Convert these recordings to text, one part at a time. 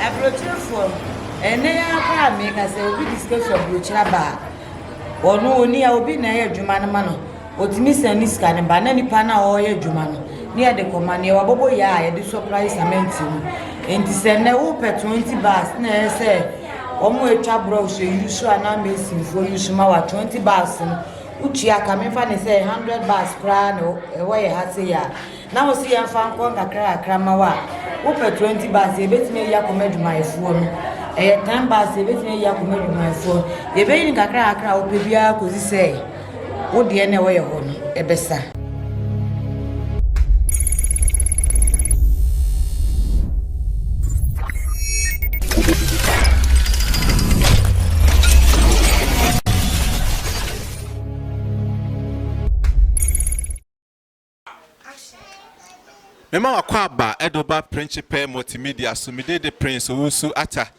Aburokyerefoɔ no, ɛnnɛ yi ara koraa a meka sɛ obi de sika firi aburokyire aba a, ɔno ɔni a obi na ɛyɛ adwuma no ma no, ɔtumi san ne sika no ba na nipa no a ɔreyɛ adwuma no ne yɛde kɔma no, yɛwɔ abɔbɔ yɛ a yɛde sɔprae samɛnti mu. Nti sɛ nnɛ wopɛ 20 bags na ɛyɛ sɛ wɔn a atwa brɔs yusu anaa mesinfoɔ yusu ma wa 20 bags no, wotua ka, memfa no sɛ 100 bags koraa na ɛwɔ yɛ ha sei a, Na wose yɛmfa nkɔ nkakrakakra mma wo a wopɛ twenty bags yɛbɛtumi ayi akɔma adwumayɛfoɔ no ɛyɛ ten bags yɛbɛtumi ayi akɔma adwumayɛfoɔ no yɛbɛyi no kakrakakra a wopɛ biara kɔsi sɛ wo deɛ na ɛwɔ yɛ hɔ no ɛbɛsa. Mema w'akwaaba ɛdo ba Principe Multimedia so, me de de Prince Owusu Atta.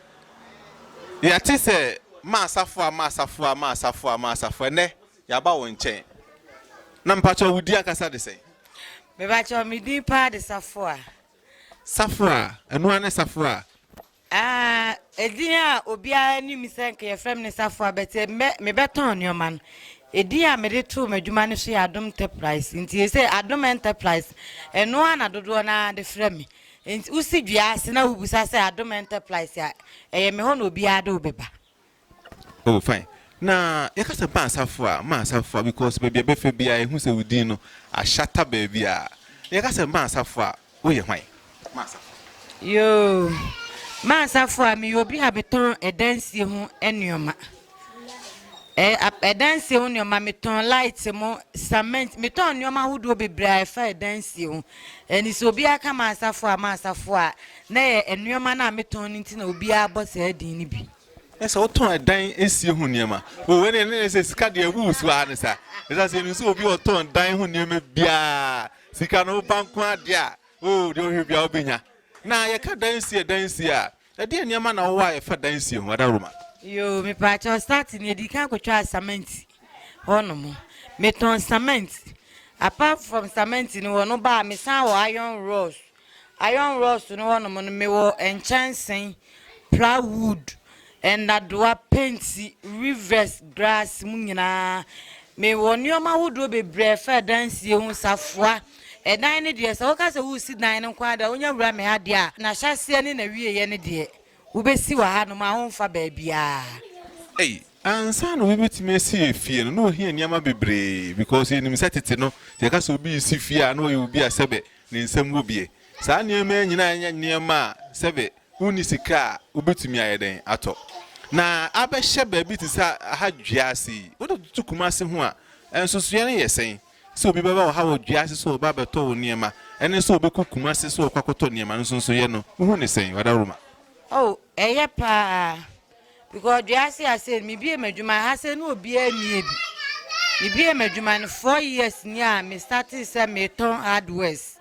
Yɛate sɛ Maasafoa, Maasafoa, Maasafoa, Maasafoa, ɛnɛ yɛaba wo nkyɛn. Na mpakyɛw wo din ankasa de sɛn? Mepakyɛw me din paa de Safoa. Safoa, ɛno ara ne Safoa? Aa edin a obiara nim sɛ nka yɛfrɛ me ne Safoa but mɛ mebɛtɔn nneɛma no. Edin a mede too m'adwuma no so yɛ Adom Enterprise. Nti ɛsɛ Adom Enterprise ɛno ara na dodoɔ no ara de frɛ me. Nti wosi dua ase na wobisa sɛ Adom Enterprise a ɛyɛ me hɔ na obiara de wo bɛba. Oh fine na yɛka sɛ ma asafo a ma asafo a because baabi a bɛfɛ biara ehu sɛ wo din no ahyata baabi a yɛka sɛ ma asafo a woyɛ hwan ma asafo. Yoo ma asafo a meyɛ obi a metɔn ɛdansie ho nneɛma ɛɛ ɛdansie ho nneɛma metɔn light mo cement metɔn nneɛma ahodoɔ bebree a ɛfa ɛdansie ho ɛni sɛ obiara ka ma asafo a ma asafo a na yɛ nneɛma no a metɔn no nti na obiara bɔ saa din no bi. Na sɛ wotɔn ɛdan nsie ho nneɛma o ɛna ɛna ɛna sɛ sika deɛ ɛwuwu so ara ne sa ɛsan sɛ ɛnu sɛ obi ɔtɔn dan ho nneɛma biara sika no ba nko adeɛ a o deɛ ɔhwɛ biara ɔbɛnya na yɛka dan nsie dan nsie a ɛdeɛ nneɛma na ɔwɔ a yɛfa dan nsie ho ada roma. Yoo mepaakyɛw start no yɛdi kan kɔtwaa cement hɔ nom metɔn cement apart from cement no wɔ no baa mesan wɔ iron rods Iron rods no hɔnom no mewɔ nkyɛnsee, plywood, nnadewa, penti, rivets, grass mu nyinaa. Mewɔ nneɛma ahodoɔ bebree a ɛfa adansie ho, safoa. Ɛdan no deɛ sɛ woka sɛ woresi dan no nko ara deɛ a wonya wura me ha deɛ a, n'ahyɛaseɛ ne n'awieeɛ no deɛ wobɛsi wɔ hanom a womfa baabiara. Ansa na obi bɛtumi asi efie no, na ohia nneɛma bebree because yɛnim sɛ tete no, sɛ yɛka sɛ obi resi fie a, na ɔyɛ obi a sɛbɛ Ne nsam wɔ bi. Saa nneɛma yi nyinaa nyɛ nneɛma a sɛbe wonni sika a wubetumi ayɛ dɛn atɔ. Na abɛhyɛ baabi te sɛ ha dua ase yi. Wode toto Kumasi ho a, nsusuiɛ no yɛ sɛn? Sɛ obi bɛba wɔ ha wɔ dua ase sɛ ɔreba abɛtɔ wo nneɛma ne sɛ ɔbɛkɔ Kumasi sɛ ɔrekɔ akɔtɔ nneɛma no, nsonsonoeɛ no, wohu no sɛn, Wadaroma? Oh, ɛyɛ paa. because dua ase ase mi bie m'adwuma ha sɛ ne obiara mmie bi mi bie m'adwuma no four years ni a mi start sɛ mi tɔn hardwares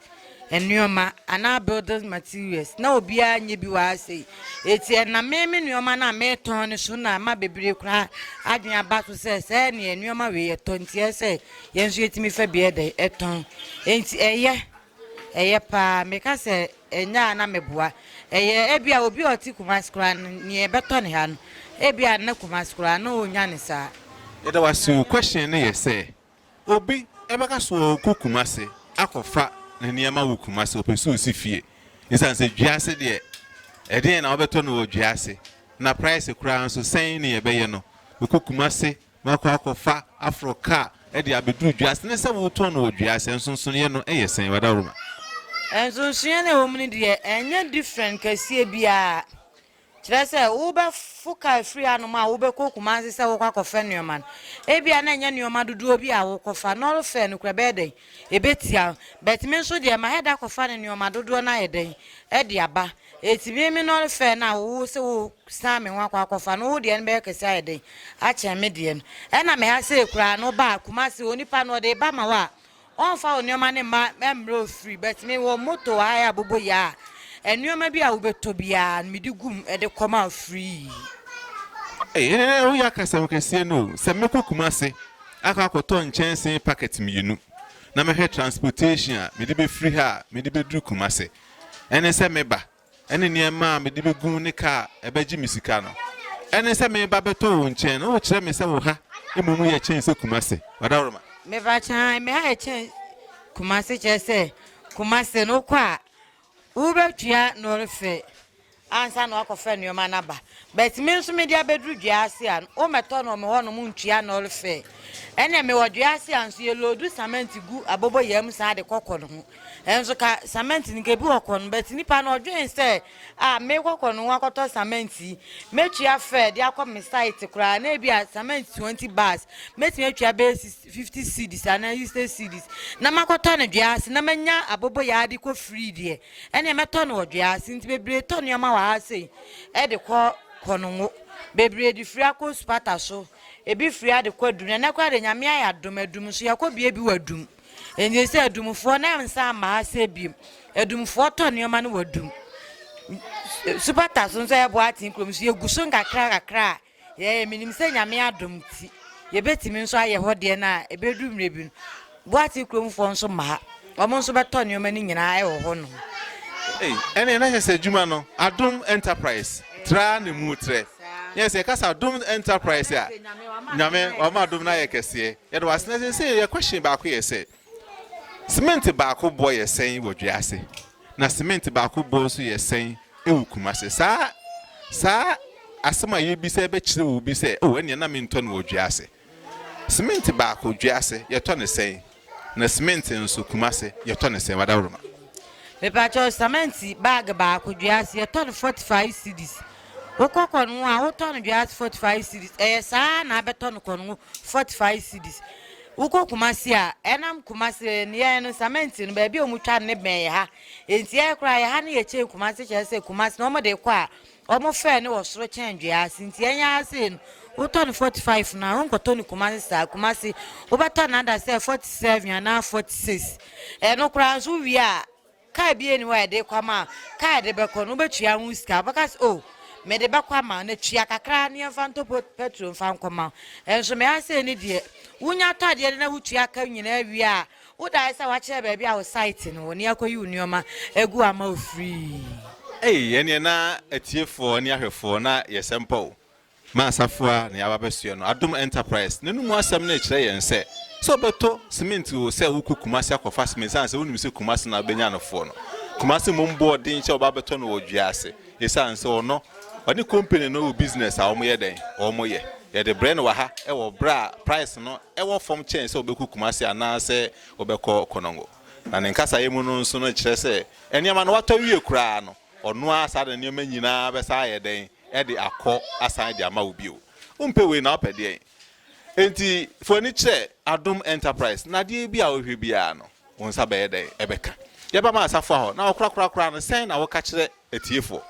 nneɛma anaa building materials na obiara nye bi wɔ ha sɛ eti ɛna mi mi nneɛma na mi tɔn no so na ama bebree koraa adwene aba so sɛ sɛ ɛne nneɛma wei yɛ tɔn ti ɛsɛ yɛn nso yɛtumi fɛ bi ɛdɛ ɛtɔn eti ɛyɛ. Ɛyɛ paa. Meka sɛ ɛnyɛ a na meboa. Ɛyɛ ebia obi a ɔte Kumasi koraa no, nea ɛbɛtɔ ne ha no, ebia na Kumasi koraa na ɔnnya no saa. Yɛda wo ase o, question no yɛ sɛ, obi bɛka sɛ ɔɔkɔ Kumasi akɔfa ne nneɛma wɔ Kumasi, ɔpɛ sɛ ɔsi fie, ɛsiane sɛ dua ase deɛ, ɛdeɛn na wobɛtɔ no wɔ dua ase, na price koraa nso sɛn ne yɛbɛyɛ no, ɔkɔ Kumasi Makɔ akɔfa aforo kaa de abeduru dua ase ne sɛ wotɔn no wɔ dua ase. Nsonsonoeɛ no yɛ sɛn? Wadawuruma. Nsonsonoeɛ no a ɛwɔ mu no deɛ, ɛnyɛ different kɛseɛ biara. Kyerɛ sɛ, wobɛfo kaa afiri hanom a wobɛkɔ Kumasi sɛ wokɔ akɔfa nneɛma no, ebia na ɛnyɛ nneɛma dodoɔ bi a wokɔfa. Nɔɔre fare no kura ɛbɛyɛ dɛn? Ɛbɛtia wo. But me nso deɛ, mayɛ da akɔfa no nneɛma dodoɔ no ayɛ dɛn? De aba. Eti me me no fɛ na wo se wo san me ho akɔ akɔfa no wo deɛ no bɛyɛ kɛse ayɛ den akyɛn me deɛ no ɛna me ha sei koraa no ba Kumasi onipa no ɔde ba ma wo a ɔnfa wo nneɛma no mma ɛmmerɛ ofiri but me wɔ moto wɔ ha yɛ abobo yɛ a nneɛma bi a wobɛtɔ biara no mede gum ɛde kɔ ma free. Ei ɛnɛ woyɛ akasɛm kɛseɛ no o, sɛ mɛkɔ Kumasi akɔ akɔtɔ nkyɛnsee packet mmienu na mɛhwɛ transportation a mede bɛfiri ha a mede bɛduru Kumasi ɛne sɛ meba, ɛne nneɛma a mede begu ne ka a ɛbɛgye me sika no, ɛne sɛ meba bɛtɔ wo nkyɛn na wokyerɛ me sɛ wo ha mmom yɛ kyɛn sɛ Kumase. Wadawurama. Meba kyɛn, me ha yɛ kyɛn Kumase kyerɛ sɛ Kumase no kɔ a wobɛtua nɔrefe Ansa na wakɔfa nnoɔma no aba. But me nso mede abɛduru dua ase a, wommɛtɔ no wɔ me hɔnom ntua null fee. Ɛnna mewɔ dua ase a nso yɛloodu cement gu aboboyaa mu saa de kɔ kɔn ho. Nso ka cement no nka ebi wɔ kɔn, but nipa no ɔdwen sɛ a mekɔ kɔn ho akɔtɔ cement yi, mɛtua fare de akɔ me site koraa na ebi a cement twenty bars, mɛtumi atua bɛyɛ fifty cedis anaa sixty cedis na makɔtɔ no dua ase na manya aboboyaa de kɔ free deɛ. Ɛneɛ mɛtɔ no wɔ dwea ase nti bebree tɔ nneɛma wɔ ha sei de kɔ Konongo. Bebree de firi akɔ Osupata so. Ebi firi ha de kɔ Adum. Ɛnɛ koraa deɛ Nyame ayɛ adom Adum nso yɛkɔ bie bi wɔ Adum. Ɛnti sɛ Adumfoɔ na nsa mma ha sei biom. Adumfoɔ tɔ nneɛma no wɔ Adum. Supata so nso yɛboa aten kurom nso yɛgu so nkakra kakra a. Yɛɛ, menim sɛ Nyame adom nti yɛbɛtumi nso ayɛ hɔ deɛ no a ɛbɛduru mmerɛ bi no Boase kurom foɔ nso ma ha, wɔn nso bɛtɔ nneɛma no nyinaa wɔ hɔ nom. Ei, ɛneɛ na kyerɛ sɛ adwuma no Adom Enterprise tra ne mu trɛ. Yes, yɛka sɛ Adom Enterprise a, Nyame wama adom no ayɛ kɛseɛ. Yɛda wo ase. Na seesei yɛ question baako yɛ sɛ, Semɛnte baako boɔ yɛ sɛn wɔ dua ase na semɛnte baako boɔ nso yɛ sɛn wɔ Kumase? Saa saa asɛm a yɛrebisa yi bɛkyerɛ wo bi sɛ, o ɛnneɛ na mentɔ no wɔ dua ase. Semɛnte baako dua ase yɛtɔ no sɛn na semɛnte nso Kumase yɛtɔ no sɛn? Wadawuroma. Mepakyɛw sɛmɛnte bag baako dua ase yɛtɔ no forty five cedis wokɔ kɔngo a wotɔ no dua ase forty five cedis ɛyɛ saa na abɛtɔ no kɔngo forty five cedis Wokɔ Kumasi a, ɛnam Kumasi, yɛn no cement no baabi a wɔn twa no ne bɛn yɛ ha. Enti yɛn koraa yɛ ha ne yɛ kyɛn Kumasi kyerɛ sɛ Kumasi no wɔn de kɔ a, wɔn fɛ no wɔ soro kyɛn dua ase. Nti yɛn yɛ ha sei no, wotɔ no forty five no a, wonkɔtɔ no Kumasi saa. Kumasi, wobɛtɔ no ada sɛ forty seven anaa forty six. Ɛno koraa nso wowie a. Car biaa ni hɔ a yɛde kɔ ama a car yɛde bɛkɔ no wobɛtua ho sika wobɛka sɛ oh mede bɛkɔ ama na tua kakra na yɛmfa ntɔ petrol mfa nkɔma nso me ha sei ne deɛ wonya tɔ adeɛ no na wotua ka nyinaa wie a wodae sɛ wakyerɛ baabi a wo site no wɔ ne akɔyi wo nneɛma agu ama wo free. Ei ɛneɛ na atiefoɔ ne ahwɛfoɔ na yɛsɛ mpɔ o Ma asafo a na yɛaba abɛsoɛ no Adom Enterprise no mu asɛm no rekyerɛ yɛn sɛ, sɛ wobɛtɔ cement o sɛ wokɔ Kumasi akɔfa cement ɛsiane sɛ wonim sɛ Kumasi na wobɛnya no foɔ no. Kumasi mmom bɔ ɔden sɛ ɔba abɛtɔ no wɔ Dwease ɛsiane sɛ ɔno ɔne company no wɔ business a wɔyɛ dɛn wɔyɛ. Yɛde brɛ no wɔ ha wɔ berɛ a price no wɔ fam kyɛn sɛ wobɛkɔ Kumasi anaa sɛ wobɛkɔ Konongo. Na ne nkasaeɛ mu no nso no kyerɛ sɛ nneɛma no watɔ awie koraa no. Ɔno ara saa na nneɛma nyina ara bɛsan ayɛ dɛn? De akɔ asan de ama wo bio. Wompɛ wei na wopɛ deɛn? Enti fa w'ani kyerɛ Adom Enterprise na adeɛ bi a wohwɛ biara no, wo nsa bɛyɛ dɛn? Ɛbɛka. Yɛba ma asafoa hɔ na wɔkorakora koraa no, sɛn na woka kyerɛ atiefoɔ?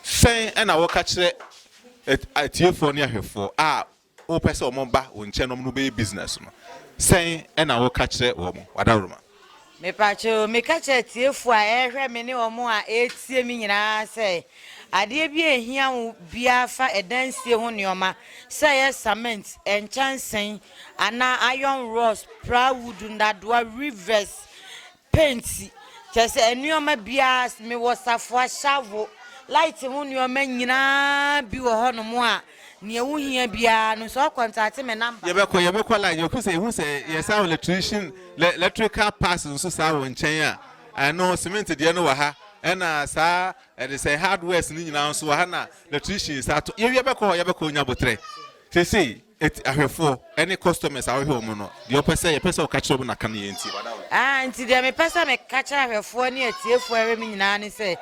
Sɛn na woka kyerɛ atiefoɔ ne ahwɛfoɔ a Wopɛ sɛ wɔba wo nkyɛn na wɔne wo bɛyɛ business no, sɛn na woka kyerɛ wɔn? W'adaworoma. Mepakyɛw, meka kyerɛ atiefo a ɛrehwɛ me ne wɔn a ɛretie me nyinaa sɛ, adeɛ bi a ɛhia wo biara fa ɛdansie ho nnoɔma, sɛ ɛyɛ cement, nkyɛnsee, anaa iron rods, plywood, nnadoa, weavers, Penti, kyerɛ sɛ nnoɔma biara, mewɔ safoa, hyavo, laete ho nnoɔma nyinaa bi wɔ hɔ nom a neɛ wo hia biara no sɛ wo kɔntate me namba. Yɛbɛkɔ yɛbɛkɔ line yɛkɔ sɛ yɛhu sɛ yɛ saa wɔ lɛtrihyini lɛ lɛtrikal pass nso saa wɔ nkyɛn a ɛno sementi deɛ no wɔ ha ɛna saa ɛde sɛ hardwares no nyinaa nso wɔ ha na lɛtrihyini saa to yɛwia bɛkɔ hɔ yɛbɛkɔ nya botrɛ sesei. Eti ahwɛfoɔ ɛne customers a wohwɛ wɔn no, deɛ ɔpɛ sɛ yɛpɛ sɛ ɔka kyerɛ wɔn na ka no yɛn nti. Aah nti deɛ mepɛ sɛ meka kyerɛ ahwɛfoɔ ne atiefoɔ a ɛhwɛ me nyinaa ne sɛ,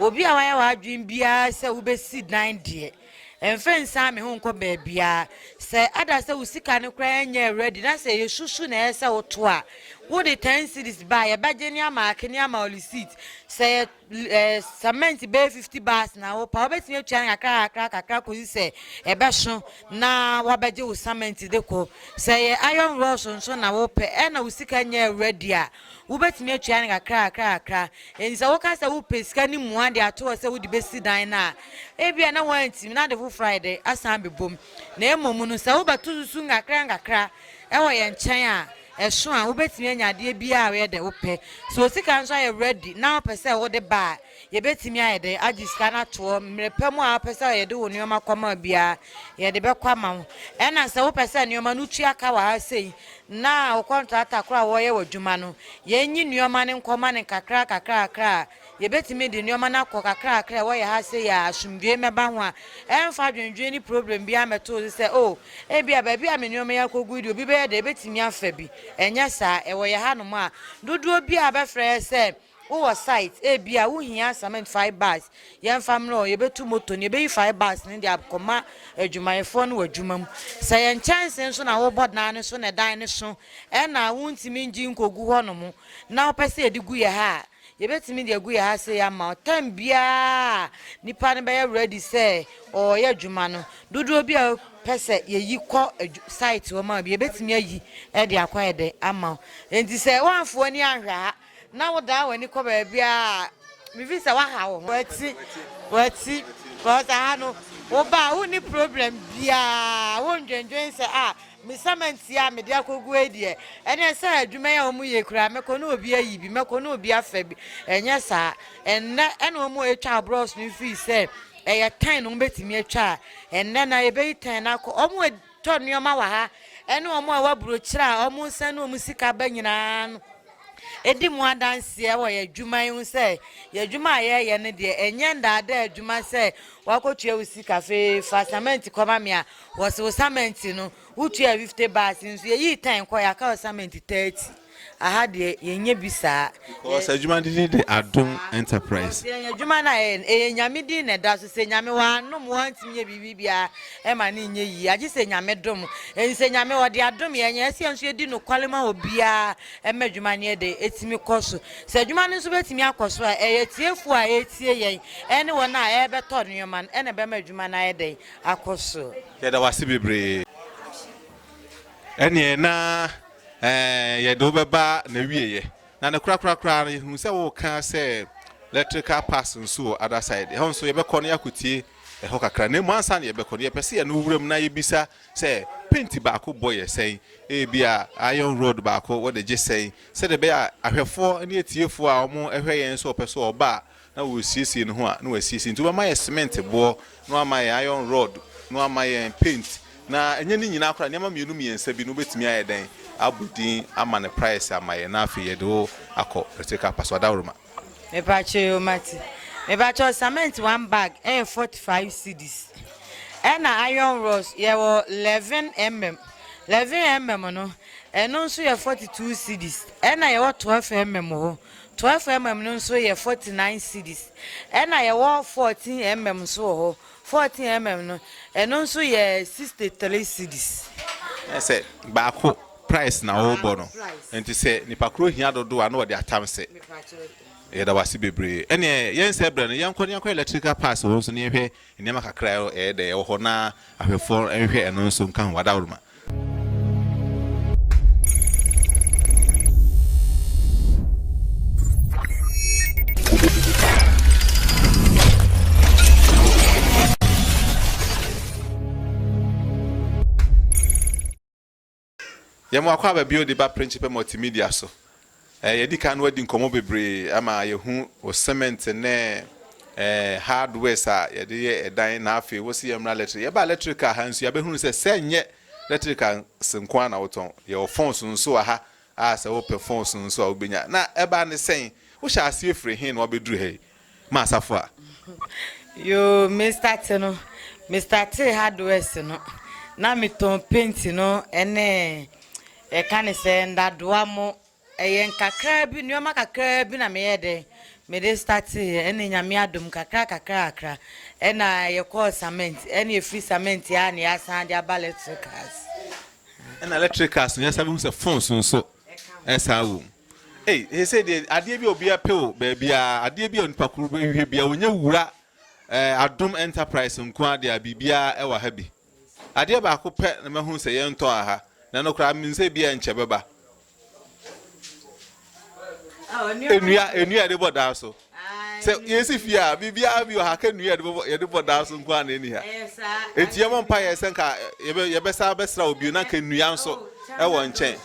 obi a wayɛ w'adwene biara sɛ wobɛsi dan deɛ, mfa nsiane me ho nkɔ baabiara. Sɛ ada sɛ wo sika no koraa nyɛɛ ready na sɛ ɛyɛ susu na ɛyɛ sɛ woto a, wode ten cedis ba a, yɛbɛgye ne amaake ne ama receipt. Sɛ yɛ. Cement bɛyɛ fifty bars na wopɛ a, wobɛtumi atua no kakrakakra kakra kɔsi sɛ ɛbɛso na woabɛgye wo cement de kɔ. Sɛ ɛyɛ iron rods nso na wopɛ ɛna wo sika nyɛɛ ready a, wobɛtumi atua no kakrakakra kakra. Enti sɛ woka sɛ wopɛ sika ne mua de ato hɔ sɛ wode bɛsi dan no a, ebia na woantumi na ade foforɔ ayɛ dɛ asan abɛbom. Na mmom no, sɛ wobɛto susu nkakrankakra wɔ yɛn nkyɛn a, Ɛso a, wobɛtumi anya adeɛ biara a woyɛ dɛ wopɛ. Sɛ wo sika nso ayɛ ready na wopɛ sɛ wode ba a, yɛbɛtumi ayɛ dɛ agye sika no ato hɔ. Mmerɛ pa mu a wopɛ sɛ yɛde wo nnoɔma kɔma wo biara, yɛde bɛkɔ ama wo. Ɛna sɛ wopɛ sɛ nnoɔma no wotua ka wɔ ha sei na wo kɔntrata korɔ a wɔyɛ w'adwuma no, yɛnyi nnoɔma no nkɔma no nkakra kakra kakra a, Yɛbɛtumi de nnoɔma no akɔ kakrakra a ɛwɔ yɛn ha sei a asomdwoeɛ mmɛba ho a, ɛmfa adwendwene ne problem biara mmɛto wo so sɛ, Oh, ebia baabi a me nnoɔma yi akɔgu yi deɛ obi bɛyɛ dɛn? Ɛbɛtumi afa bi. Ɛnyɛ saa. Ɛwɔ yɛn hanom a, dodoɔ biara a wobɛfrɛ yɛn sɛ wowɔ site, ebia wohia cement five bars, yɛmfa mmra o, yɛbɛtu moto no, yɛbɛyi five bars no de akɔma adwumayɛfoɔ no wɔ adwuma mu. Sɛ yɛn nkyɛnsee so na wobɔ dan no so na dan no so na wontumi ngye nkɔgu hɔnom na wopɛ sɛ yɛde gu yɛn ha a, Yɛbɛtumi de agu yɛn ase ama wo tam biara a nipa no bɛyɛ ready sɛ ɔreyɛ adwuma no. Dodoɔ bi a pɛ sɛ yɛyi kɔ site hɔ ma bi, yɛbɛtumi ayi de akɔ ayɛ dɛ ama wo. Enti sɛ woamfo w'ani anhwɛ ha na wodan w'ani kɔ baabi a mefi sɛ woaha wo ho. Wati, wati, because aha no wobaa wonni problem biara, wondwendwen sɛ a Me sɛmɛnti a mede akɔgu yi deɛ, ɛnneɛ sɛ adwuma yi a wɔyɛ yi koraa, mɛkɔ ne obi ayi bi, mɛkɔ ne obi afa bi. Ɛnyɛ saa. Ɛnnɛ na wɔretwa brɔs no firi sɛ ɛyɛ tan na wɔbɛtumi atwa a, ɛnnɛ na yɛbɛyi tan no akɔ. Wɔretɔ nneɛma wɔ ha ne wɔn a ɛwɔ aburokyire a wɔresan ne wɔn sika ba nyinaa no di mu adanseɛ wɔ yɛn adwuma yi ho sɛ yɛn adwuma a yɛreyɛ no deɛ, ɛnyɛ nnaadaa adwuma sɛ woakɔtua wo sika afei fa sɛmɛnti kɔma me a, Wɔsi osamɛnti no wotua fifte baas nso yɛyii tɛn kɔ yɛaka osamɛnti tɛɛti aha deɛ yɛnyɛ bi saa. Because adwuma no din de adom enterprise. Because yɛn adwuma no a yɛyɛ no ɛyɛ nyame din na ɛda so sɛ nyame wanom wantumi nyɛ biribi biara ɛma no nyɛ yie agye sɛ nyame dom ɛnti sɛ nyame ɔde adom yɛn ɛsɛ yɛn nso yɛdi nokwale ma obiara ɛma adwuma no yɛ dɛ ɛtumi kɔ so sɛ adwuma no nso bɛtumi akɔ so a ɛyɛ tiefoɔ a ɛretie yɛn ɛne wɔn a ɛrebɛtɔ nneɛma no ɛna ɛbɛma adwuma no ayɛ dɛn akɔ soro. Yɛda wo ase bebree. Ɛneɛ na eh, yɛde wo bɛba n'awieɛ. Na ne korakora koraa no, yɛhunu sɛ woka sɛ electrical pass nso wɔ other side. Ɛhɔ nso yɛbɛkɔ na yɛakɔtie ɛhɔ kakra. Na mmom ansa na yɛbɛkɔ no, yɛpɛ sɛ yɛne wo wuram na yɛbisa sɛ penti baako bɔ yɛ sɛn? Ebia iron rod baako wɔde gye sɛn? Sɛdeɛ ɛbɛyɛ a ahwɛfoɔ ne atiefoɔ a wɔhwɛ yɛn nso wɔpɛ sɛ wɔba a, na ɔresiesie ne ho a, na wasiesie, nti wobɛma yɛn cement boɔ, na wama yɛn iron rod, na wama yɛn paint, na ɛnyɛ ne nyinaa koraa, nneɛma mmienu mmiɛnsa bi no wobɛtumi ayɛ dɛn abɔ din ama no price ama yɛn, na afei yɛde wo akɔ Pretoria Apaso Adaworoma. Mepakyɛ o mate. Mepakyɛ cement one bag ɛyɛ forty five cedis. Ɛna iron rods yɛwɔ eleven mm. Eleven mm no ɛno nso yɛ forty two cedis. Ɛna yɛwɔ twelve mm hɔ. 12mm no nso yɛ 49 cedis. Ɛna yɛwɔ 14mm nso wɔ hɔ. 14mm no, ɛno nso yɛ 63 cedis. Ɛne sɛ, baako price na wɔbɔ no. Nti sɛ nipa koro hia dodoɔ a, na wɔde atam se. Yɛda wo ase bebree. Ɛneɛ yɛnsɛ berɛ no, yɛnkɔ na yɛnkɔyɛ electrical parts wɔ hɔ nso na yɛnhwɛ Nneɛma kakra a ɛyɛ dɛ wɔ hɔ na ahwɛfo nhwɛ ɛno nso nka ho adaworoma. Yɛma wakɔ aba bio de ba Principe Multimedia so. Eh, yɛadi kan no adi nkɔmmɔ bebree ama yɛahu wo cement ne eh, hardwares a yɛde yɛ ɛdan na afei wo se yɛmmra electric. Yɛba electric a ha nso yɛabɛhunu sɛ sɛ nyɛ electric a se nko a na wotɔn. Yɛwɔ phones nso wɔ ha a sɛ wopɛ phones nso a wobɛnya. Na ɛbaa ne sɛn? Wohyɛ aseɛ firi he na wabɛduru ha yi? ma asafo a. Yoo me starte no me startee hardwares no na me tɔn paint no ɛne yɛka ne sɛ ndadoa mo ɛyɛ nkakraa bi nnoɔma kakraa bi na meyɛ dɛn mede starteeɛ ɛne nyame adom kakra kakra kakra ɛna yɛkɔɔ cement ɛne ɛfiri cement a na yɛasan de aba electric cars. Ɛna electric cars no yɛsan bɛhu sɛ phones nso. Ɛsan wom. Ei, seesei deɛ adeɛ bi a obiara pɛ wɔ baabiara, adeɛ bi a onipa koro bɛhwehwɛ biara, ɔnyɛ wura eh, Adom Enterprise nko ara deɛ a biribiara ɛwɔ ha bi. Adeɛ baako pɛ na mahu sɛ yɛntɔ wɔ ha, na ɛno koraa menim sɛ ebiara nkyɛ bɛba. Nnua, nnua a yɛde bɔ dan so. Sɛ yɛsi fie a, biribiara bi wɔ ha, ka nnua yɛde bɛbɔ yɛde bɔ dan so nko ara na ɛni ha. Enti yɛbɔ mpa yɛ sɛ nka yɛbɛ yɛbɛsa abɛsra obi na nka nnua nso ɛwɔ nkyɛn.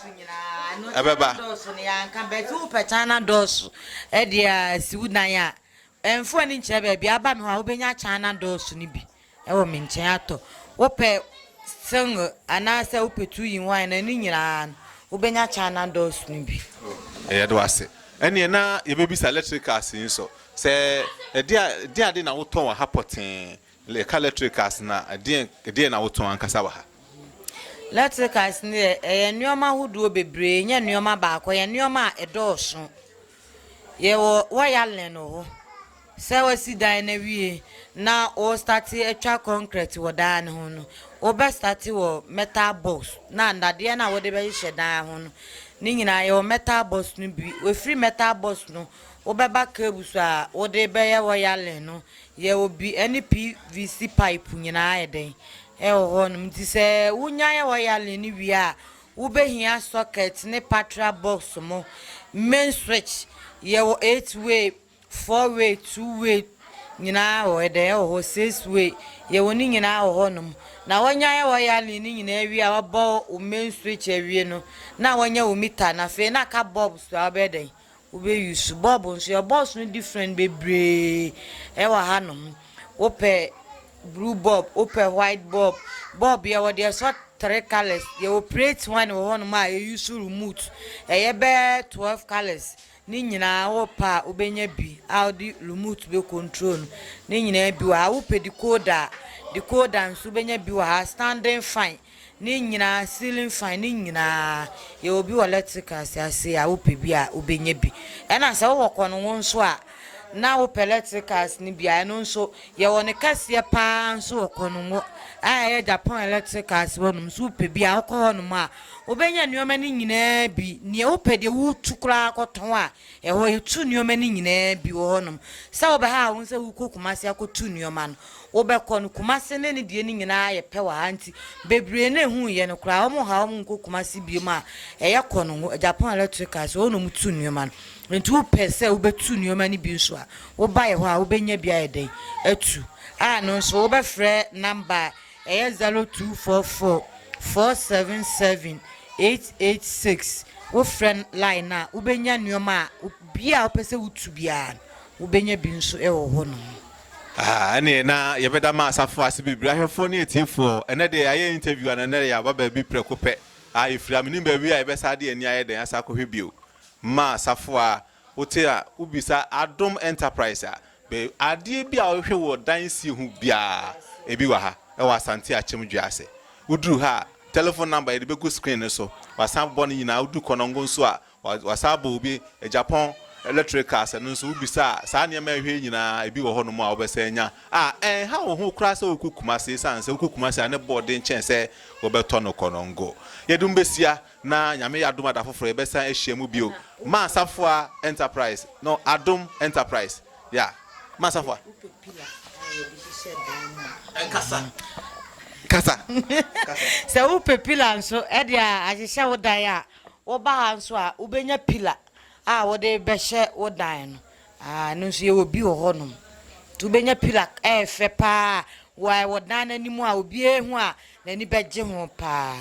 Ɛbɛba. Dɔɔso no yɛanka bɛti wo pɛtan na dɔɔso ɛde a si wo dan a ɛmfoɔ ani nkyerɛ baabi aba no hɔ a wobɛnya kyan na dɔɔso no bi. wɔ me nkyɛn atɔ. Wopɛ single anaasɛ wopɛ two in one a, ne nyinaa no, wobɛnya China doors no bi. Yɛda wo ase. Ɛnneɛ na yɛbɛbisa electricals yi nso, sɛ ɛdeɛadeɛ na wotɔn wɔ ha pɔtee? Yɛka electricals no a, ɛdeɛn na wotɔn ankasa wɔ ha? Electricals no deɛ, ɛyɛ nneɛma ahodoɔ bebree, ɛnyɛ nneɛma baako, ɛyɛ nneɛma a ɛdɔɔso. Yɛwɔ wireline wɔ hɔ. Sɛ wasi dan no awie na wɔrestate atwa kɔnkrɛt wɔ dan no ho no, wobɛstate wɔ metal box na nnadeɛ no a wode bɛhyehyɛ dan ho no, ne nyinaa yɛwɔ metal box no bi. Wofiri metal box no, wobɛba cables a wode bɛyɛ wireline no, yɛwɔ bi ne PVC pipe nyinaa yɛ dɛn, ɛwɔ hɔnom. Nti sɛ wonya yɛ wireline no wie a, Wobɛhia sɔkɛt ne patra bɔks mo main switch yɛwɔ eight way, four way, two way nyinaa wɔ ɛdɛn ɛwɔ hɔ six way yɛwɔ ne nyinaa wɔ hɔ nom na wɔnya yɛ wɔ yale ne nyinaa wie a wɔbɔ wo main switch awie no na wɔnya wo mita na afei na aka bɔb so a wobɛyɛ dɛn Wobɛ use bulb nso yɛwɔ bulbs no different bebree ɛwɔ ha nom wopɛ blue bulb wopɛ white bulb bulb yɛwɔ deɛ ɛsɔ three colours yɛwɔ plate one wɔ hɔ nom a yɛ use remote ɛyɛ bɛ twelve colours ne nyinaa wopɛ a wobɛnya bi a wode remote bɛ control no ne nyinaa bi wɔ ha wopɛ decoder a decoder nso wobɛnya bi wɔ ha standing fine. Ne nyinaa ceiling fan ne nyinaa yɛwɔ bi wɔ electrical si ase a wopɛ bi a wobɛnya bi ɛna sɛ wowɔ kɔ no wo nso a na wopɛ electricals no bi a ɛno nso yɛwɔ ne kɛseɛ paa nso wɔ kɔ no ngo a ɛyɛ Japan electricals wɔ nom so wopɛ bi a wokɔ hɔ nom a wobɛnya nneɛma no nyinaa bi neɛ wopɛ deɛ wotu koraa kɔtɔn a Ɛhɔ yɛtu nnoɔma no nyinaa bi wɔ hɔ nom sɛ wobɛhaa wo sɛ wokɔ Kumasi akɔtu nnoɔma no wobɛkɔ no Kumasi ne ne deɛ no nyinaa yɛ pɛ wɔ ha nti bebree no ɛhu yɛ no koraa wɔn ha wɔn nkɔ Kumasi biom a ɛyɛ kɔ no ho Japan electricals hɔ nom tu nnoɔma no nti wopɛ sɛ wobɛtu nnoɔma no bi nso a woba yɛ hɔ a wobɛnya bi ayɛ dɛn atu a no nso wobɛfrɛ number a Ɛyɛ zero two four four four seven seven eight eight six wo frɛ line no a wobɛnya nnoɔma a bia a wopɛ sɛ wotu biara no wobɛnya bi nso wɔ hɔ nom. Ahaa ɛneɛ na yɛbɛda ma asafo ase bebree ahwɛfoɔ ne atiefoɔ ɛnɛ deɛ yɛayɛ interview ana ɛnɛ yɛaba baabi prɛko pɛ aa yɛfiri a menim baabi a yɛbɛsa de yɛn ani ayɛ dɛn asa akɔhwɛ bio ma asafo a Wote a, wobisa Adom Enterprise a, bɛ adeɛ bi a wohwɛ wɔ dan sie ho biara, ebi wɔ ha, ɛwɔ Asante Akyem Dwease. Woduru ha a, telephone number yɛde bɛgu screen no so, wɔasan abobɔ no nyinaa. Woduru Konongo nso a, wɔasan abɔ obi, Agyapong Electricals, ɛno nso wobisa a, saa nneɛma a ɛhwɛ yi nyinaa, ebi wɔ hɔnom a wobɛsan anya a ɛnha wo ho koraa sɛ wokɔ Kumasi, esiane sɛ wokɔ Kumasi a, ne bo den kyɛn sɛ wobɛtɔ no Konongo. Yɛde mo bɛhyia na Nyame yɛ adom a da foforɔ yɛbɛsan ahyia mu bio Maasafua Enterprise no Adom Enterprise yeah Maasafua Wopɛ pillar a yɛde hyehyɛ dan no a Ɛnkasa Kasa Kasa Sɛ wopɛ pillar nso de ahyehyɛ wo dan a, woba ha nso a wobɛnya pillar a wode bɛhyɛ wo dan no Ah ɛno nso yɛwɔ bi wɔ hɔ nom nti wobɛnya pilak ɛyɛ fɛ paa wɔ wɔ dan no anim a obiara hu a n'ani bɛgye ho paa.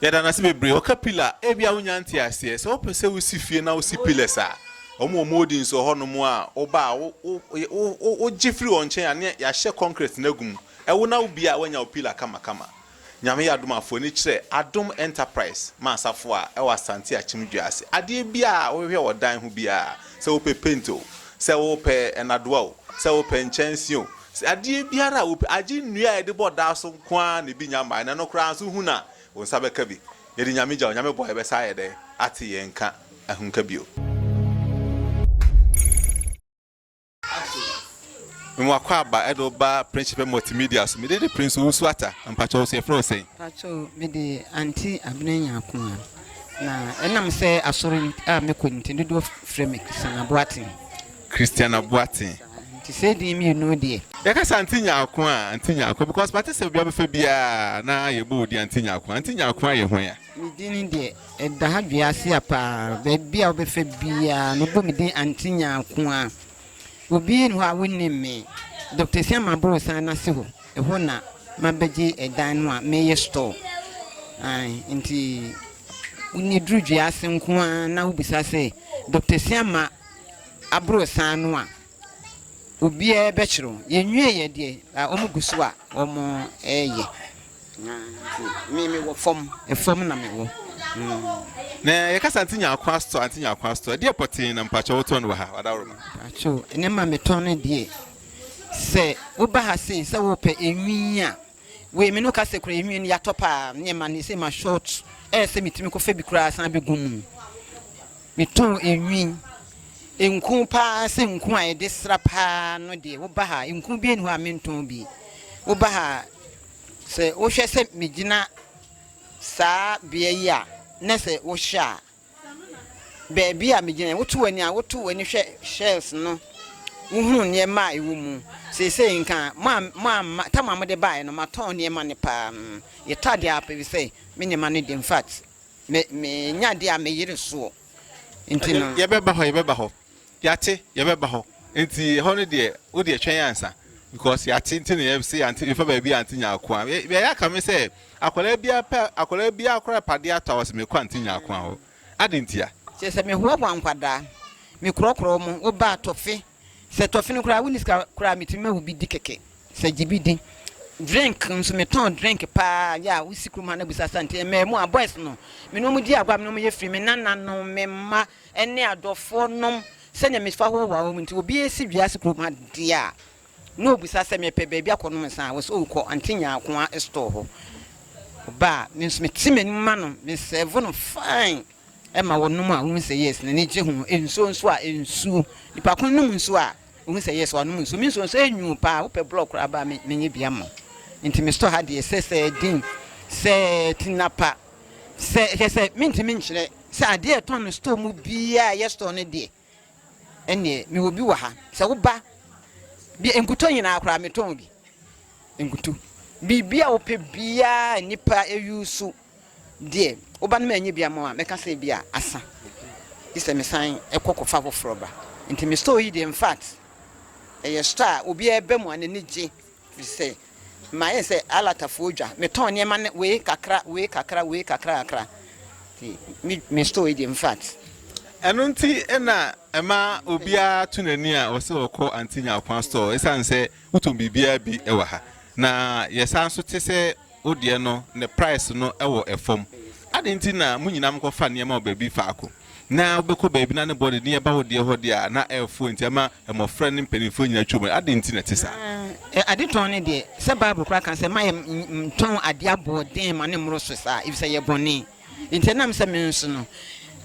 Yɛda no ase bebree. Wɔka pillar a, ebia wonnya ntee aseɛ. Sɛ wopɛ sɛ wosi fie na wosi pillars a, wɔn wɔ mouldings wɔ hɔnom a, woba a, wo, wo, wo, wo, wogye firi wɔn nkyɛn a, na yɛahyɛ concrete no agu mu. Wo na wobie a, woanya wo pillar kamakama. Nyame yɛ adom a fo ani kyerɛ Adom Enterprise ma asafo a ɛwɔ Asante Akyem dua ase. Adeɛ biara a wohwehwɛ wɔ dan ho biara, sɛ wopɛ paint o, sɛ wopɛ nnadoa o, sɛ wopɛ nkyɛnse o, sɛ adeɛ biara a wopɛ, agye nnua a yɛde bɔ dan so nko ara na ebi nnya mmaeɛ na ɛno koraa nso wohu no a, wo nsa bɛka bi. Yɛde Nyame gya Onyame bɔ a yɛbɛsan ayɛ dɛn ate yɛn nka ahunka bio? Ato nwa akwaaba ɛde wo ba Prince Shipɛ Multimedia so. Mede de Prince Owusu Atta. Mpakyɛ wo so yɛfrɛ wo sɛn? Mpakyɛ wo, mede Aunty Abena Nyakoa. Na ɛnam sɛ asɔre a mekɔ nti dodoɔ frɛ me Christian Aboaten. Christian Aboaten. Saa, nti saa edin mmienu deɛ. Yɛka sɛ Aunty Nyakoa a, Aunty Nyakoa because mate sɛ obiara bɛfa biara na yɛbɔ wo din Aunty Nyakoa. Aunty Nyakoa yɛ hwan a? Me din no deɛ, ɛda ha Dweaseɛ pa ara. Baabi a wobɛfa biara no, wobɔ me din Auntie Nyarkoa. Obi nni hɔ a wonnim me. Doctor Asiamah Aborosan no ase hɔ, ɛhɔ na mabɛgye ɛdan no a meyɛ store. Ae, nti wonni duru Dwease nko ara na wobisa sɛ Doctor Asiamah Aborosan no a, obiara bɛkyerɛ wo. Yɛnwieeɛ deɛ, wɔgu so a wɔreyɛ. Na me me wɔ fam, fam na me wɔ. Na yɛ kasa anti nya akwa store, anti nya akwa store. Ɛdeɛ pɔtee na mpakyɛ wotɔn no wɔ ha, wadawroma. Mpakyɛ o, ne ma metɔn no deɛ. Sɛ woba ha sei sɛ wopɛ enwin a, wei me no kasa kura enwin no yɛatɔ paa, ne ma ne sɛ ma short, ɛyɛ sɛ metumi kɔ fɛ bi koraa san bɛ gu mu. Metɔn enwin, nku paa sɛ nku a yɛde sra paa no deɛ, woba ha nku bi ɛni hɔ a mentɔn bi, woba ha. Sɛ wohwɛ sɛ megyina saa bea yi a, na sɛ wohwɛ a, baabi a megyina yi, woto w'ani a, woto w'ani hwɛ shelves no, wohunu nneɛma a ɛwɔ mu. Seesei nka a, mo a, mo a, ma, tam a mode baeɛ no, matɔn nneɛma no paa. Mm, yɛtɔ adeɛ a, pɛbi sɛ me nneɛma no de, in fact, me, menya adeɛ a, meyere soɔ. Nti Ɛnde no. yɛbɛba hɔ, yɛbɛba hɔ. Yɛate, yɛbɛba hɔ. Nti hɔ no deɛ, wo deɛ twɛn ansa. Because yɛate nti na yɛse yɛante, yɛfa baabi a yɛante Nyarko a. Yɛ, yɛayɛ aka me sɛ, akwadaa biara pɛ, akwadaa biara koraa pɛ adeɛ atɔ a, ɔse mekɔ Ante Nyarko a hɔ. Adɛn ntia? Kyerɛ sɛ mehoahoa nkwadaa, mekorɔkorɔ wɔn, woba a tɔfe, sɛ tɔfe no koraa wonni sika koraa a, metumi ma wo bi di kɛkɛ, sɛ gye bi di. Drink nso, metɔn drink paa, yɛ a wosi kurom ha na bisa Asante, mmaa mu a, boys no, me ne wɔn di agorɔ a, me ne wɔn yɛ free, me nananom, me mma, Ɛne adɔfoɔ nom sɛdeɛ mefa hɔ wɔ wɔn nti obiara si wiase kurom ha deɛ a na ɔbisa sɛ mepɛ baabi akɔ nom nsa a wɔ sɛ ɔkɔ Auntie Nyaakoa store hɔ ɔba a me nso mete m'anim ma no me serve no fine ɛma wɔnom a wɔhu sɛ yes n'ani gye ho nsuo nso a nsuo nipa ko nom nsuo a wɔhu sɛ yes wɔnom nsuo me nsuo nso ɛnwuu paa wopɛ blɔk koraa ba me menyɛ bi ama nti me store ha deɛ sɛ sɛ din sɛ tinapa sɛ hwɛ sɛ mentimi nkyerɛ Sɛ adeɛ a yɛtɔn no store mu biara a ɛyɛ store no deɛ, ɛnneɛ mewɔ bi wɔ ha. Sɛ woba bi nkutoo nyinaa koraa metɔn bi. Nkutu. Biribi a wopɛ biara a nnipa use deɛ, woba no manyɛ bi ama wo a, mɛka sɛ ebi a asa. Gye sɛ mesan kɔ kɔfa foforɔ ba. Nti me store yi deɛ, in fact, ɛyɛ store a obiara ba mu a n'ani gye. Ɛfiri sɛ mayɛ sɛ alatafoɔ dwa, metɔn nneɛma no wei kakra, wei kakra, wei kakra kakra, nti me me store yi deɛ infact. Ɛno nti na ɛma obiara to n'ani a ɔsɛ sɛ ɔkɔ Aunty Nyarkwa store, ɛsiane sɛ wotɔn biribiara bi wɔ ha, na yɛsan nso te sɛ. Wo deɛ no, ne price no wɔ fam. Adɛn nti na mo nyinaa mokɔfa nneɛma wɔ baabi faako? Na wobɛkɔ baabi na ne bɔ de nneɛma ba wo deɛ hɔ deɛ a, na ɛrefoɔ nti ama mmɔfra ne mpanimfoɔ nyinaa atwam ɛ. Adɛn nti na ɛte saa? Na adetɔn no deɛ, sɛ Bible koraa ka sɛ, Mma yɛntɔn adeɛ aboɔden ma no mmoro so saa, efisɛ ɛyɛ bɔne. Enti ɛnam sɛ me nso no,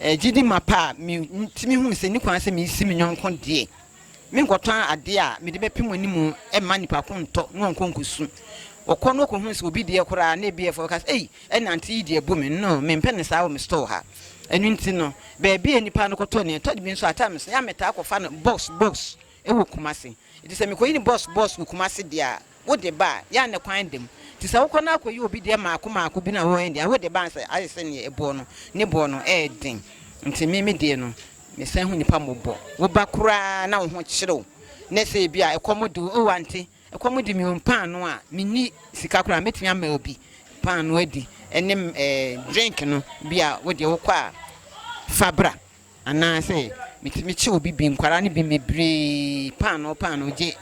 gyidi mapa a, mitumi hu sɛ enni kwan sɛ misi me yɔnko deɛ. Menkɔtɔ adeɛ a mede bɛpem wɔn anim mma nnipa ko ntɔ na wɔnkɔ nkɔsu. Wɔkɔ na wɔkɔhunu sɛ obi deɛ koraa na ebi yɛ fɛ a, wɔka sɛ, Ei, ɛnna auntie yi deɛ bu me. No, mempɛ no saa wɔ me store ha. Ɛno nti no, baabi a nnipa no kɔtɔ nneɛma, ɛtɔ da bi nso a, at times no, yɛn a metaa kɔfa no box box wɔ Kumasi. Enti sɛ mekɔyi no box box wɔ Kumasi deɛ a, Wode ba a, yɛ a ne kwan da mu. Nti sɛ wokɔ na akɔyɛ obi deɛ mmaako mmaako bi na wɔyɛ deɛ a, wode ba a sɛ ayɛ sɛ neɛ ɛboɔ no, ne boɔ no yɛ den. Nti me, me deɛ no, mesan hu nnipa mmɔbɔ. Woba koraa na wo ho kyere wo, na sɛ ebi a ɛkɔm de wo, oh ante, ɛkɔm de me o, mpaanoo a menni sika koraa a, mɛtumi ama obi paanoo adi, ɛne ɛɛ drink no, bi a wo deɛ wokɔ a, fa bra. Anaasɛ metumi kye obi bi, nkwadaa no bi bebree paanoo paanoo gye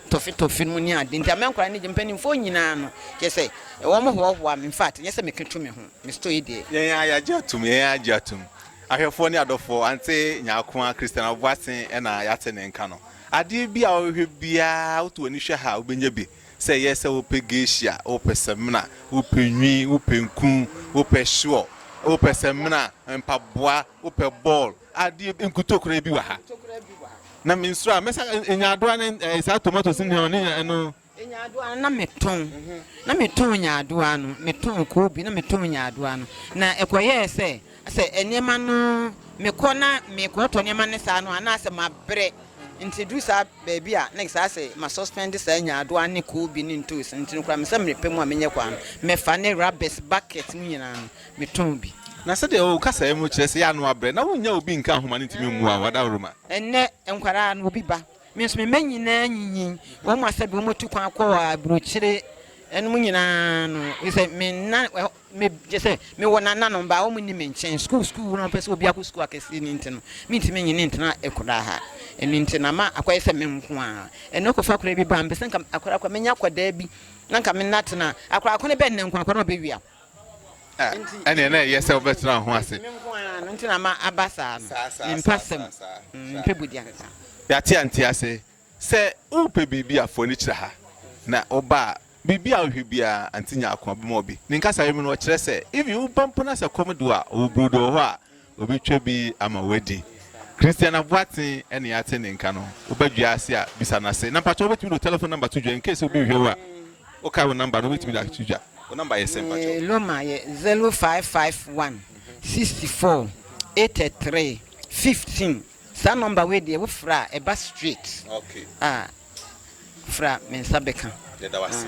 tɔfe tɔfe no mu ne ade nti ama nkwadaa no gye. Mpanimfoɔ nyinaa no, kyerɛ sɛ wɔhoahoa me, infact ɛnyɛ sɛ meka tu me ho, me story deɛ. Yɛn ara yɛagye atom, yɛn ara agye atom. Ahwɛfoɔ ne adɔfoɔ, ante Nyarko ara Christian Aboasen na yɛate ne nka no. Adeɛ bi a wobɛhwɛ biara, woto w'ani hwɛ ha a, wobɛnya bi. Sɛ ɛyɛ sɛ wopɛ geisha, wopɛ samina, wopɛ nwi, wopɛ nku, wopɛ sure, wopɛ samina, mpaboa, wopɛ ball, adeɛ bi, nkutoo koraa bi wɔ ha. Na me nsuro a, mɛsa nyaadoa ne eh, saa tomatoes ne ne ɛno. Nyaadoa no na metɔn, na metɔn nyaadoa no, metɔn koobi na metɔn nyaadoa no. Na ɛkɔyɛɛ sɛ Sɛ nneɛma no, mekɔ na mekɔtɔ nneɛma ne saa no a, na asɛ mabrɛ. Nti ɛduru saa baabi a, na ɛsɛ asɛ ma suspend saa nyaadoa ne koobi ne ntoosi. Nti no koraa me sɛ mmerɛ pɛ mu a menya kwan no, mɛfa ne rubbish bucket mu nyinaa no, metɔn bi. Na sɛdeɛ wo kasaeɛ mu kyerɛ sɛ yɛ a na woabrɛ, na wonnya obi nka ho ma no ntumi mmua wo adaworoma. Ɛnnɛ nkwadaa no, obi ba. Me nso me mma nyinaa anyinyin. Wɔn asɛdeɛ wɔatu kwan akɔ aburokyire nom nyinaa no, sɛ menna Me gye sɛ me wɔ nananom ba a wɔn nni me nkyɛn sukuu sukuu wura wɔn pɛ sɛ obiako sukuu akɛseɛ no nti no me ntumi nyɛ ne ntena ɛkodaa ha ɛno nti na ma akɔyɛ sɛ me nko ara ɛnɛ ɔkɔ fa akora bi ba mpɛ sɛ nka akora akora menya akɔdaa bi na nka me nna tena akora akora bɛ nnɛ nko akora na ɔbɛ wia ɛne ɛna ɛyɛ sɛ ɔbɛ tena ho ase me nko ara no nti na ma aba saa no mpa sɛm mpɛ bodi ansa yate ante ase Sɛ worepɛ biribi a, fa w'ani kyerɛ ha, na woba a, biribi a wohwɛ biara, Auntie nya akoma bɛma wo bi. Ne nkasayɛ mu no, ɔkyerɛ sɛ, even woba mpo na sɛ kɔm de wo a, ɔwɔ burodo wɔ hɔ a, ɔbɛtwa bi ama woadi. Christian Aboateng na yɛate ne nka no. Woba dwa ase a, bisa no ase. Na mpakyɛ wobɛtumi de wo telephone number to dwa, incase obi rehwɛ wo a, wokae wo number no, wobɛtumi de ato dwa. Wo number yɛ sɛn mpakyɛ? Me loma yɛ zero five five one sixty four eighty three fifteen. Saa number wei deɛ wo frɛ a ɛba straight a fra me nsa bɛka. Yɛda wo ase.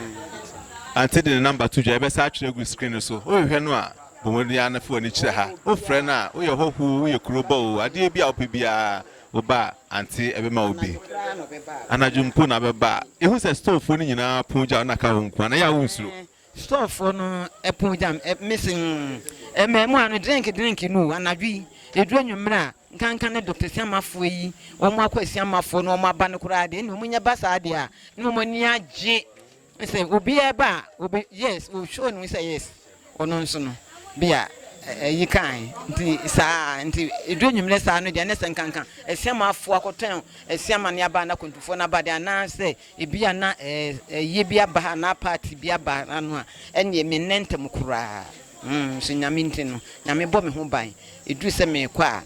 Ante de ne number to dwa, yɛbɛsa atwerɛ agu screen no so. Wohwehwɛ no a, bɔ mmɔden ara na fa w'ani kyerɛ ha. Wofrɛ no a, woyɛ hɔho o, woyɛ kurobɔ o, adeɛ bi a wopɛ biara, woba a, Ante bɛma wo bi. Anadwo mpo na bɛba a, yɛhu sɛ storefoɔ no nyinaa pon gya wo na ka wo nko ara, na ɛyɛ a wonsuro. Storefoɔ no pon gya me se mmaamua no drink drink no o, anadwo yi, ɛduru anwummerɛ a, nkanka ne Doctor Asiamafoɔ yi, wɔn akɔ Asiamafoɔ na wɔn aba no koraa deɛ, ɛnna wɔn nyɛ ba saa deɛ a, na wɔn ani agye sɛ obiara ba a, obe, yes, o show no sɛ yes, ɔno nso no, bi a ɛyi kae, nti saa, nti ɛduru anwummerɛ saa no deɛ, ne sɛ nkanka Asiamafoɔ akɔtɔn Asiama ne aba, anaa Akwantufoɔ no aba deɛ, anaasɛ Ebia na ayie bi aba anaa party bi aba ano a, ɛnneɛ mennɛ ntɛm koraa. Nso Nyame nti no, Nyame bɔ me ho ban. Ɛduru sɛ merekɔ a,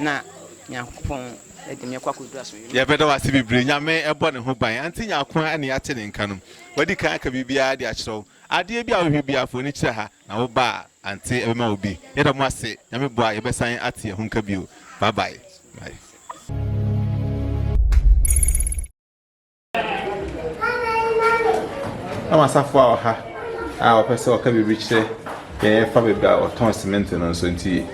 na Nyankopɔn de me kɔ akɔduru asomdwoe mu. Yɛbɛda wo ase bebree. Nyame bɔ ne ho ban. Auntie Nyarko a ne yɛate ne nka no, wadi kan aka biribiara de akyerɛ wo. Adeɛ bi a wohwɛ biara, fa w'ani kyerɛ ha, na woba a, Auntie bɛma wo bi. Yɛda mo ase. Nyame boa a, yɛbɛsan ate yɛn ho nka bio. Bye bye. Bye. Ama asafo a ɔha a ɔpɛ sɛ ɔka biribi kyerɛ yɛn fa baabi a ɔtɔn cement no nso nti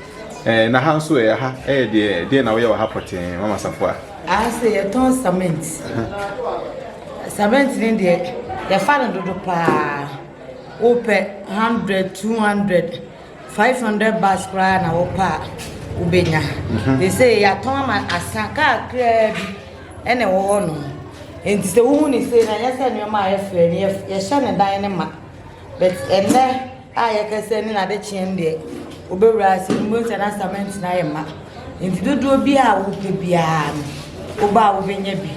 ɛɛ na ha nso ɛyɛ ha ɛyɛ deɛ deɛ na wɔyɛ wɔ ha pɔtee mama asafo a. Aha sɛ yɛtɔn cement cement ne deɛ yɛfa no dodo paa wopɛ hundred two hundred. Five hundred bars koraa na wɔpɛ a wobɛnya. Te sɛ yɛatɔn ama asa kaa kraa bi ɛna ɛwɔ hɔ nom. Nti sɛ wohu ne sei na ɛnyɛ sɛ nneɛma a yɛfrɛ no yɛhyɛ ne dan no ma. But ɛnɛ a yɛkasa ne nade kyeɛ deɛ wobɛwura ase no wobɛhu sɛ na cement no ayɛ ma. Nti dodoɔ bi a wopɛ biara no woba a wobɛnya bi.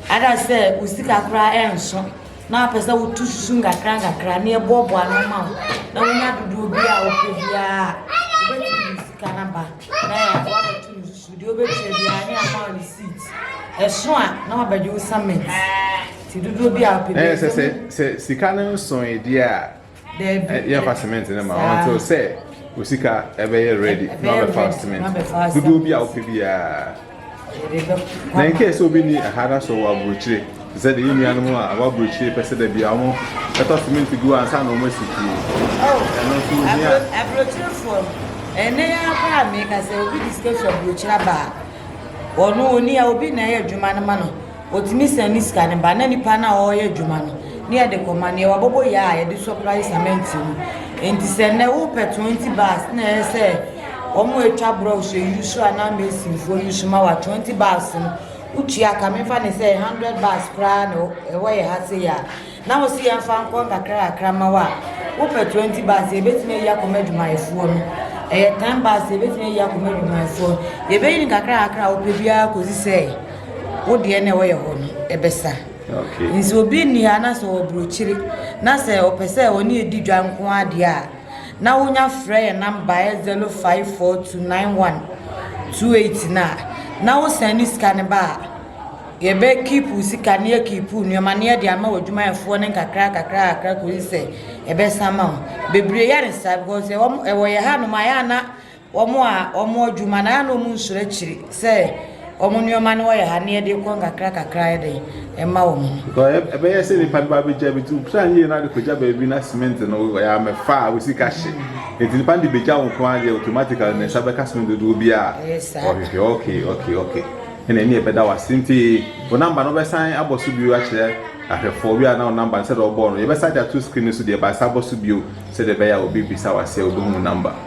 Ada sɛ wo sika koraa ɛnso. na apɛ sɛ wotu susu nkakra nkakra na yɛboaboa ano ma wo na wonya dodoɔ bi a wopɛ biara a wobɛtumi de sika no aba na yɛ- woabɛto no susu deɛ wobɛtua biara ne ama wo receipt ɛso a na wabɛgye wo summit nti dodoɔ bi a wopɛ na yɛ biara sɛ sɛ sɛ sika no nsoe deɛ a Daabi. Yɛmfa cement no ma wɔn nti sɛ osika ɛbɛyɛ ready na ɔbɛfa cement dodoɔ bi a wopɛ biara. Na in case obi ni ɛha da so wɔ aburokyire te sɛ de yɛ nuanom a wɔ aburokyire pɛ sɛ da bi a wɔn ɛtɔ cement gu ansa na wɔn asi fie. Ɛno nso ohia. Aburokyirefoɔ ɛnɛ yɛ akora mi ka sɛ obi discuss aburokyire aba a ɔno oni a obi na ɛyɛ adwuma no ma no. Otumi san ne sika no ba na nipa no a ɔreyɛ adwuma no ne yɛde kɔma no yɛ wabɔbɔ yɛ a yɛde sɔprai sɛmɛnt mu nti sɛ nnɛ wopɛ 20 bars na ɛyɛ sɛ wɔn a atwa borɔw so yusu anaa mesinfoɔ yusu ma wa 20 bars no wotua ka mefa ne sɛ 100 bars koraa na ɛwɔ yɛ ha sei a na wɔsi yɛn fa nkɔ nkakra kakra ma wa wopɛ 20 bars yɛbɛtumi ayi akɔma adwumayɛfoɔ no ɛyɛ 10 bars yɛbɛtumi ayi akɔma adwumayɛfoɔ yɛbɛyi ne kakra kakra a wopɛ biara kɔsi sɛ wo deɛ na wɔyɛ hɔ no ɛbɛsa nti obi nni ha na sɛ ɔburokyiri na sɛ ɔpɛ sɛ ɔne ɛdi dwa nko adeɛ a na wonya frɛ yɛ namba ɛ 05429128 no a na wo sɛn ne sika no ba a yɛbɛ kiipu sika ne yɛ kiipu nneɛma ne yɛde ama wɔ adwumayɛfoɔ no nkakra kakra kakra kɔsi sɛ ɛbɛsa ma wo bebree yɛ ne saa because ɛwɔ yɛ ha nom a yɛ ana wɔn a wɔn adwuma no a na wɔn nsoro akyiri sɛ wɔn nneɛma no wɔyɛ ha na yɛde kɔ nkakra kakra yɛ den ɛma wɔn no. Because ɛbɛyɛ sɛ nipa no ba abɛgya bi nti wopira yie na de kɔgya baabi na cement no wɔyɛ amɛfa a wosika hye nti nipa no de bɛgya wo nko adeɛ automatically ne nsa bɛka cement dodoɔ bi a ɔhwehwɛ ok ok ok ɛna ɛne ɛbɛda wase nti wo namba no wobɛsan abɔ so bio akyerɛ ahwɛfoɔ bi a na wo namba no sɛdeɛ ɔbɔɔ no yɛbɛsan de ato screen no so deɛ baasa abɔ so bio sɛdeɛ ɛbɛyɛ a obi bisa wase a wobɛhu wo namba.